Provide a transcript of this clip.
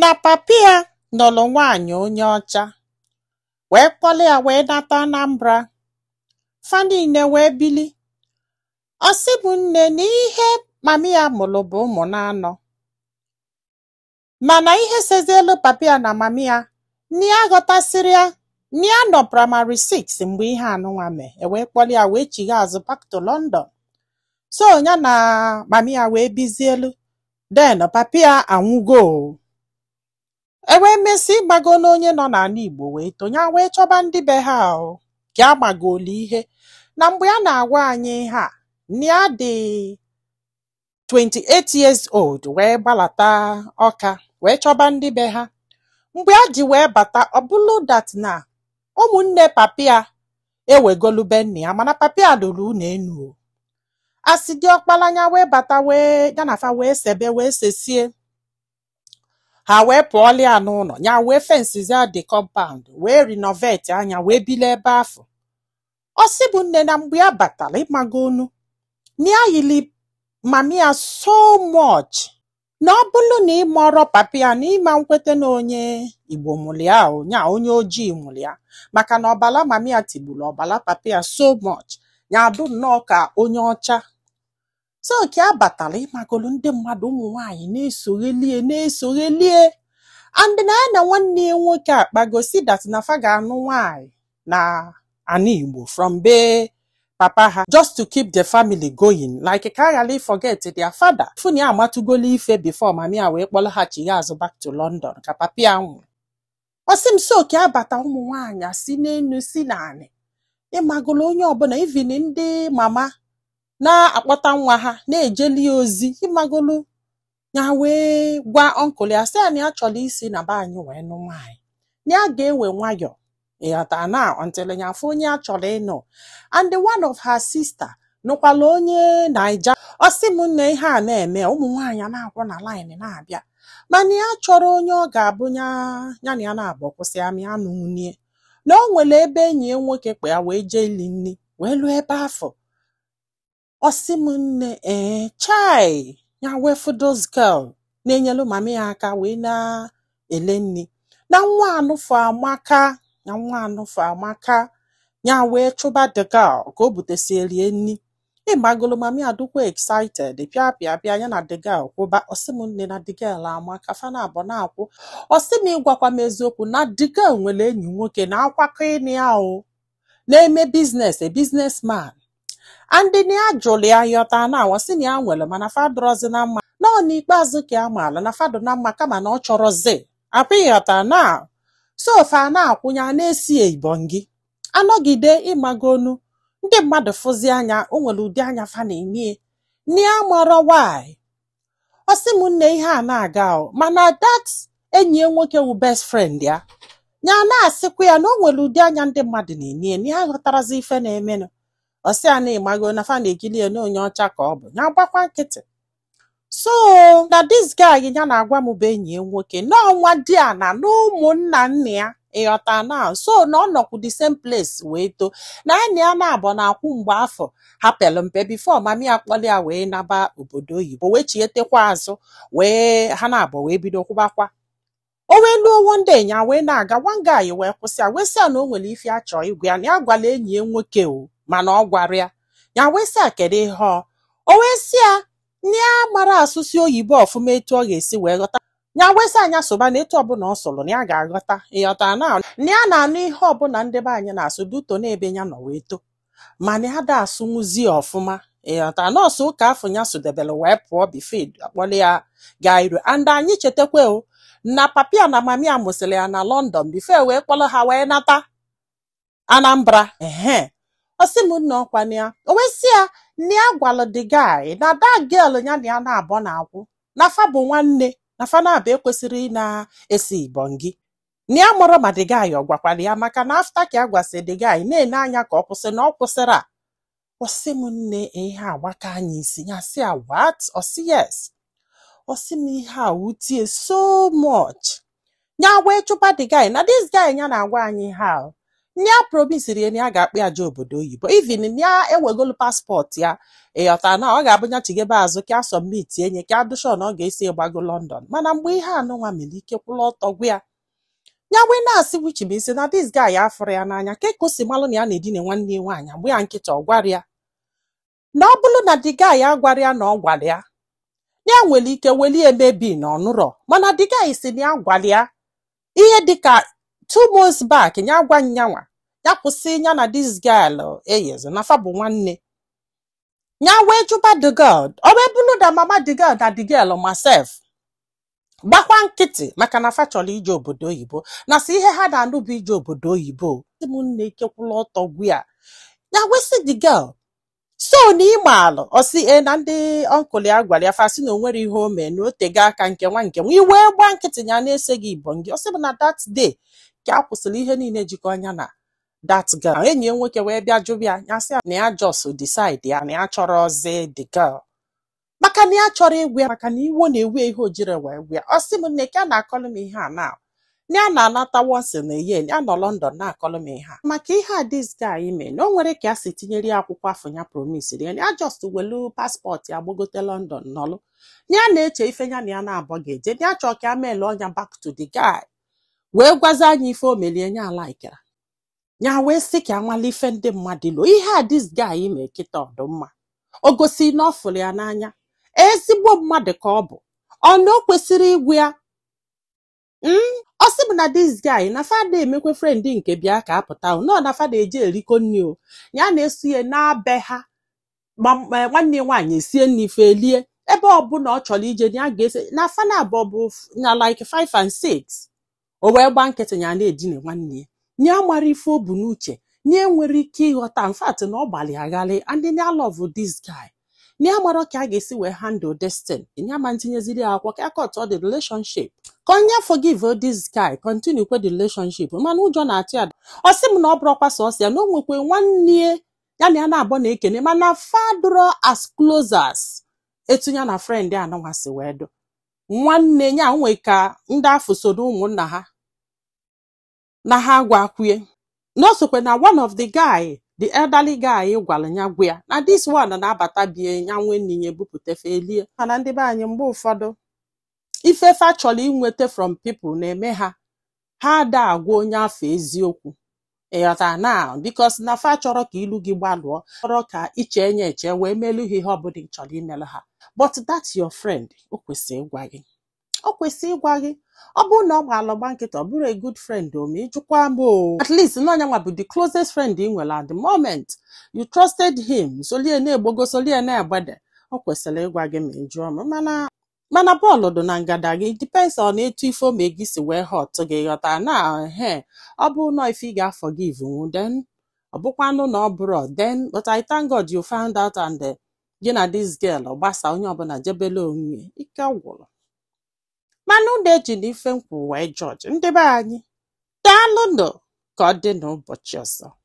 na papa ya nụlụ nwaanyị onye ọcha wee kpọlụ ya wee nata Anambra fa niile wee bili ọ sị m nne na ihe mami ya mụlụ bụ ụmụ naanọ mana ihe sezielu papa ya na mami ya na ya aghọtasịrọ ya na ya nọ praịmarị 6 mgbe ihe anụnwa mee e wee kpọlụ ya wee chigha azụ back to London so ya na mami ya wee bizielu then papa ya anwụgo e wee mesị ịmago n'onye nọ n'ana Igbo wee too ya wee chọba ndị be ha o ka a magolu ihe na mgbe a na-agwa anyị ihe a na ya dị 28 years old wee gbalata Ọka wee chọba ndị be ha mgbe a ji wee bata ọ bụlụ that na ụmụnne papa ya ewegolu be nna ya mana papa ya lụrụ ụlọ enu as the ọkpala ya wee bata wee ya na fa wee sebe wee sesie ha wee pụọlụ ya n'ụnọ ya wee fensizie the compound wee renovatie ya ya wee bili ebe afụ ọ sị m nne na mgbe ya batara ịmagonụ na ya yili mami ya so much na ọ bụrụ na ị marọ papa ya na ị ma nkweta na onye Igbo mụrụ ya o, na onye ojii mụrụ ya maka na ọbala mama ya tigburu ọbala papa ya so much ya adụ nnọọ ka onye ọcha so ka a batara ịmagolu ndị mmadụ ụmụ nwaanyị na-esogheli ya na-esogheli ya and na ya na nwanne ya nwoke akpago sị that na fa ga-anụ nwaanyị n'ana Igbo from be papa ha just to keep the family going like ka a ghara forget their father fụ na ya amatụgolu ife before mami ya wee kpọlọghachi ya azụ back to London ka papa ya nwụrụ ọ sị m so ka a bata ụmụ nwaanyị si n'enu si n'anị ịmagolu onye ọbụla even ndị mama na-akpọta nwa ha na-ejeli ozi ịmagolu ya wee gwa uncle ya sị ya na ya chọrọ isi na be anyị wee nụọ nwaanyị na ya ga-ewe nwayọ ịghọta na until ya afụ onye ya chọrọ ịnụ and one of her sister nụkwalụ onye Naija ọ sị m nne ihe a na-eme ụmụ nwaanyị a na-akwụ na line na-abịa mana ya chọrọ onye ọ ga-abụ ya ya na ya na-abụ kwụsị amị anụ nwunye na o nwere ebe enyi ya nwoke kpọ ya wee jee ili nri wee luo ebe afụ ọ sị m nne ee chai ya wee fụ this girl na-enyelu mami ya aka wee na-ele nri na nwa anụfụ amaka na nwa anụfụ amaka ya wee chụba the girl ka o butesielu ya nri ịmagolu mami ya adụkwa excited pịa pịa pịa ya na the girl kwụba ọ sị m nne na the girl amaka fa naabọ na-akwụ ọ sị m ị gwakwa m eziokwu na the girl nwere enyi nwoke na-akwakọ ịnụ ya o na-eme business a businessman and na ya jụrụ ya ịghọta na ọ sị na ya nwere mana fa adịrọzi na mma na ọ n'ikpeazụ ka ya maala na fa dụ na mma kama na ọ chọrọzi akwa ịghọta na so fa na-akwụ nya na-esi ibongi anọgide ị magonu ndị mmadụ fụzi anya o nwere ụdị anya fa na-ene ya na ya amarọ why ọ sị m nne ihe a na-aga o mana that enyi ya nwoke wụ best friend ya ya na-asịkwa ya na o nwere ụdị anya ndị mmadụ na-ene ya na ya aghọtarọzi ife na-emenụ ọ sị ya na ị mago na fa na-ekili ya na onye ọcha ka ọ bụ ya gbakwa nkịtị so na this guy ya na-agwa m bụ enyi ya nwoke na ọ nwadiana na ụmụnna nna ya ịghọta na so na ọ nọkwu the same place wee too na ya na ya naabọ na-akwụ mgbe afụ ha pere mpe before mama ya kpọrọ ya wee naba obodo oyibo wee chietekwa azụ wee ha naabọ wee bido kwụbakwa o wee luo one day nya wee na-aga one guy wee kwụsị ya wee sị ya na o nwere ife ya chọọ ịgwa ya na ya gwala enyi ya nwoke o mana ọ gwara ya ya wee sị ya kedu ihe ọ o wee sị ya ya amarọ asụsụ oyibo ọfụma etu ọ ga-esi wee ghọta ya wee sị ya nya sụba na etu ọbụla ọ sụrụ na ya ga-aghọta ịghọta na na ya na-anụ ihe ọbụla ndị be anyị na-asụ due to n'ebe ya nọ wee too mana ya ada asụnwuzi ọfụma ịghọta nọọsụ ụka afụ ya sụdebere wee pụọ before a kpọrọ ya gaa iro and anyị chetakwa o na papa ya na mama ya mụsịrị ya na London before wee kpọrọ ha wee nata Anambra ehe ọ sị m nna ọkwa na ya o wee sị ya na ya gwalụ the guy na that girl ya na ya naabọ na-akwụ na fa bụ nwanne na fa naabọ ekwesịrọ ị na-esi ibọngi na ya amarọ ma the guy ọ gwakwara ya maka na after ka ya gwasị the guy na-ene anya ka ọ kwụsị na ọ kwụsịrọ ọ sị m nne ihe agbaka nya isi ya sị ya what ọ sị yes ọ sị m ihe a wute ya so much ya wee chụpa the guy na this guy ya na-agwa anyị ha ya promisiri ya na ya ga-akpọ ya je obodo oyibo even ya ewegolu passport ya ịghọta na ọ ga-abụ ya chigebe azụ ka a submit enye ka a dị sure na ọ ga-esi gbago London mana mgbe ihe anụnwa mere ike kwụrụ ọtọ gwụ ya ya wee na-asị which means na this guy ya afụrọ ya n'anya kee ka o si malụ na ya na-edina nwanne ya nwaanyị gba ya nkịtị ọ gwara ya na ọ bụrụ na the guy ya gwara ya na ọ gwara ya na ya nwere ike weli ya maybe na ọ nụrọ mana the guy sị na ya gwara ya ihe dịka two months back ya gwa nya nwa ya kwụsị ya na this girl eyizi na fa bụ nwanne ya wee jụba the girl ọ wee bụrụ na mama the girl na the girl ma self gbakwa nkịtị maka na fa chọrọ ije obodo oyibo na si ihe ha na-anụ bụ ije obodo oyibo ọ sị m nna ike kwụlụ ọtọ gwụ ya ya wee sị the girl so na ị maalụ ọ sị ee na ndị uncle ya gwara ya fa sị na o nwerọ ihe o mee na o tego aka nke nwa nke nwa ị wee gbaa nkịtị ya na-esi gị ibongi ọ sị m na that day ka ya kwụsịrị ihe niile jikọ nya na that girl enyi ya nwoke wee bịa jụba ya ya sị ya na ya just decide ya na ya achọrọzi the girl maka na ya chọrọ ịgwa ya maka na iwe na-ewe ya ihe o jiri wee gwa ya ọ sị m nne ka a na-akọlụ m ihe a na na ya na-anata once in a year ya nọ London na-akọlụ m ihe a maka ihe a this guy mee na o nwere ka ya si tinyere ya akwụkwọ afụ ya promise ya ya just welu passport ya gbagote London nọlụ na ya na-eche ife ya na ya naabọ ga-eje na ya chọọ ka ya meelụ onwe ya back to the guy wee gwazi anyị ife o meli nya alaikịrọ nya wee sị ka a malụ ife ndị mmadụ ilo ihe a this guy mee kịta ọ dụ mma o gosi na ọ fụrụ ya n'anya ezigbo mmadụ ka ọ bụ na o kwesịrị ịgwa ya Mm, ọ sị m na this guy na fa ada emekwa friend nke bịa ka a pụta o na na fa ada eje erikọ nri o ya na-eso ya ana be ha ma ma nwanne ya nwaanyị esie nri fe elie ebe ọbụla ọ chọrọ ije ya ga-eso na fa na abụọ bụ f- na like 5 and 6 o wee gba nkịtị ya na-edina nwanne ya nya amarọ ife o bu n'uche nya enwerọ ike ịghọta in fact na ọ gbalụ ya ghalị and nya love this guy nya amarọ ka a ga-esi wee handle this thing nya ama ntinyeziri ya akwụkwọ ka ya cut off the relationship ka ọ nya forgive this guy continue kwa the relationship mana ụjọ na-atụ ya ọ sị m na ọ bụrọkwa sọsọ ya na o nwekwa nwanne ya ya na ya naabọ na-ekene mana fa adịrọ as close as etu ya na friend anụnwa si wee dụ nwanne ya nwoke ndị afụ so n'ụmụnna ha na ha gwakwa ya na o sokwa na one of the guy the elderly guy gwara ya gwa ya na this one na-abata be ya nwe nni ya ebupụta fe elie mana ndị be anyị mgbe ụfọdụ ife fa chọrọ inweta from people na-eme ha ha ada agwa onye afụ eziokwu ị ghọta na because na fa achọrọ ka ilu gị gbalụọ achọrọ ka i chee nya eche wee melu ha ihe ọbụla ị chọrọ imelụ ha but that your friend o kwesịrị ịgwa gị ọ kwesịrị ịgwa gị ọ bụrụ na ọ gbalụ gba nkịtị ọ bụrọ a good friend o ma ị jụkwa m o at least na onye nwa bụ the closest friend ị nwere at the moment you trusted him solie na-egbogo solie na-egbede ọ kwesịrị ịgwa gị ma ị jụọ m mana mana ball dị na ngada gị depends on etu ife o me gị si wee hurt gị ghọta na he ọ bụrụ na ọ ife ị ga-aforgive nwu then ọ bụkwanụ na ọ bụrọ then but I thank God you found out and eh, gị na this girl agbasa onye ọbụla jebele onwe ike gwụrụ mana unu ejina ife m kwu wee judge ndị be anyị daalụnụ ka ọ dị n'ụbọchị ọzọ